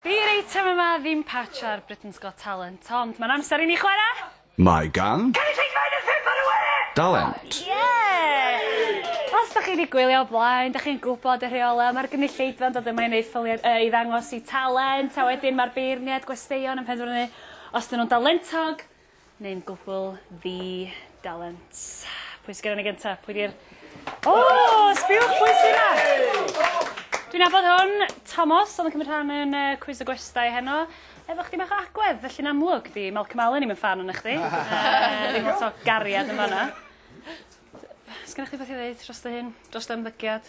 Di'r eitem yma ddim patch ar Britain's Got Talent, ond mae'n amser i ni chwarae! Mae gan. Cynulleidfa yn y Ffimpar y Wye! Dalent! Yeah! Os dach chi wedi gwylio o blaen, dach chi'n gwybod y rheolau, mae'r gynulleidfa'n dod yma i wneud ffyliau, yy, i ddangos eu talent, a wedyn mae'r beirniaid gwesteion yn penderfynu os 'dyn nhw'n dalentog, Neu'n gwbl ddi dalent. Pwy sy gyda ni gyntaf? Pwy di'r... O! Sbiwch pwy sy'n yna! Dwi'n abod hwn, Tomos, oedd yn cymryd rhan yn uh, cwiz y gwestai heno. Efo chdi bach o agwedd, felly'n amlwg, di Malcolm Allen i'n ffan o'n chdi. Ddim uh, lot o gariad yn fanna. Sgynna chdi beth i ddeud dros dy hyn, dros dy ymddygiad?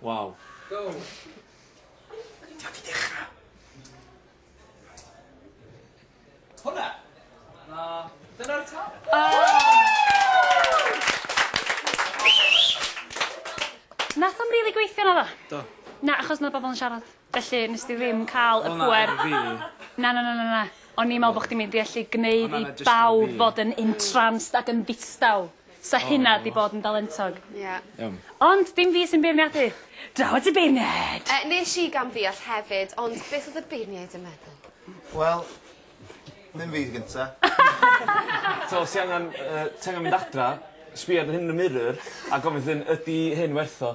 Waw. Go! Ti wedi dechra? Hwnna? Na. Dyna'r tân. Nath o'm rili gweithio naddo? Do. Na achos ma' bobol yn siarad. Felly nes di ddim ca'l y pŵer... Wel na, ddim fi. Na na na na na. O'n i'n me'wl bo' chdi mynd i ellu gneud i bawb fod yn entranced ac yn ddistaw. Sa hynna 'di bod yn dalentog. Ie. Iawn. Ond dim fi sy'n beirniadu. Draw at y beirniaid! Yy nesh i gam-ddeall hefyd ond beth odd y beirniaid yn meddwl? Wel ddim fi sy gynta. So os ti angan yy ti angan mynd adra sbia dy hun yn y mirror a gofyn dy hun ydi hyn werth o?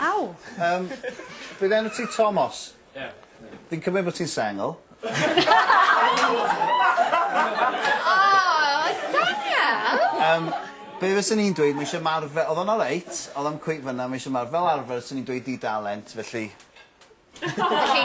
Aw! Yym, bydd enw ti Tomos? Ie. Fi'n cymryd bod ti'n sengl. Oh, sengl? Yym, be' fyswn i'n dweud, ma' isie marw- fe- odd o'n oreit, odd o'm cweit fynna, ma' isie marw- fel arfer swn i'n dweud di dalent, felly Felly,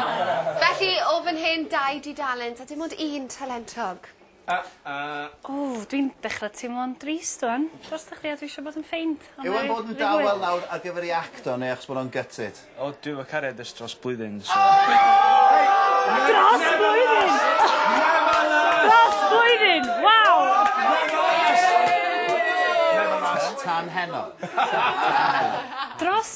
felly o fan hyn, dau dudalent a dim ond un talentog. Uh uh. O, dwi'n dechra teimlo'n drist ŵan drostoch chdi a dwi isio bod yn ffeind. Yw e'n bod yn dawel nawr ar gyfer ei act o neu achos bod o'n gutted? O, dwi efo cariad ers dros blwyddyn, so... Dros blwyddyn! Dros blwyddyn! Waw! Tan heno. Dros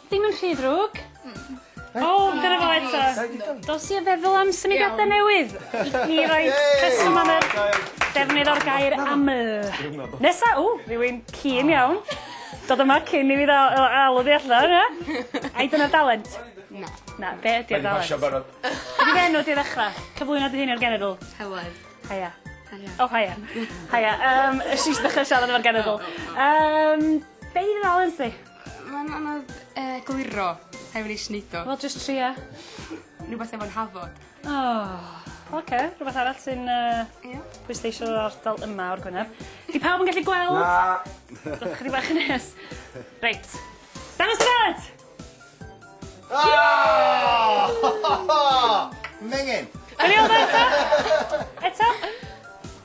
Ddim yn rhy ddrwg. Mm. O! Dyna fo eto. Dos i a feddwl am symudiada newydd i roi rheswm am yr defnydd o'r gair aml. Nesa, ww, rhywun cyn iawn. Dod yma cyn i fi ddal- yy alw fi allan, yy. Ai dyna dalent? Na. Na, be' ydi o dalent? Mae 'di pasio barod. Be' 'di dy enw di i ddechra? Cyflwyno dy hun i'r genedl. Helen. Haia. Haia. O haia. Haia. Yym, es i jyst ddechra siarad efo'r genedl. Yym, be' 'di dy dalent di? Mae'n anodd yy egluro rhai wedi nesh neud o. Wel jyst tria. Rwbeth efo 'Nhafod. O! Oce rwbeth arall sy'n yy... Ia? ...pwysleisio yr ardal yma o'r Gwenab. 'Di pawb yn gallu gweld? Na! Dowch chydig bach yn nes. Reit. Dangos dy fad! Mengen! Gawn ni weld o eto? Eto?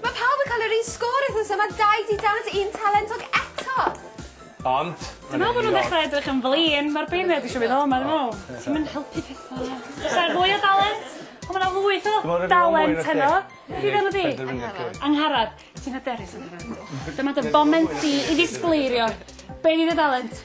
Mae pawb yn cael yr un sgôr wythnos yma, dau di dant, un talentog eto! Ond, Dwi me'wl bo' nw'n ddechra edrych yn flin, ma'r beirniad isio mynd o 'ma dwi me'wl. Ti'm yn helpu petha. Os ae mwy o dalent! O ma' 'na lwyth o dalent heno. Be' 'di enw di? Angharad. Angharad. Ti'n hyderus Angharad? Dyma dy foment di i ddisgleirio. Be' 'di dy dalent?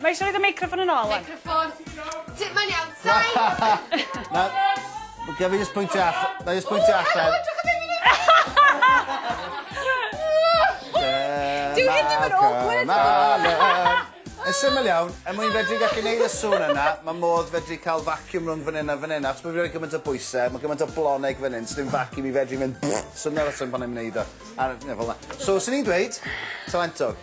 Mae eisiau rhaid y meicroffon yn ôl. Meicroffon. Ti'n ma'n iawn. Sain! Gaf i jyst pwyntio allan. Na i jyst pwyntio allan. Dyw hyn ddim yn awkward ddo! Yn syml iawn, er mwyn fedru gallu neud y sŵn yna, mae modd fedru cael vacuum rhwng fan hyn a fan hyn, achos bod fi wedi gymaint o bwysau, mae gymaint o bloneg fan hyn, sdim vacuum i fedru mynd swnio'r reswm pan i'n wneud o. A, fel yna. So, swn i'n dweud, talentog.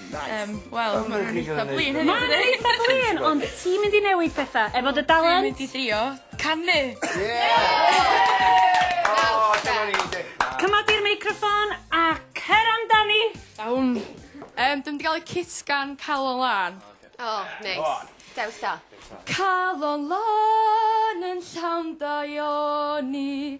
Yym wel ma' nw'n eitha flin hefyd. Ma' nw'n eitha flin ond ti'n mynd i newid petha efo dy dalent. Dwi'n mynd i drio canu. Ie! O dyna ni dechra. Cymod di'r meicroffon a cer amdani! Iawn. Yym dwi mynd i ga'l y cit gan Calon Lân. Oce. O neis. Go on. Dewis da. Calon Lân yn llawn daioni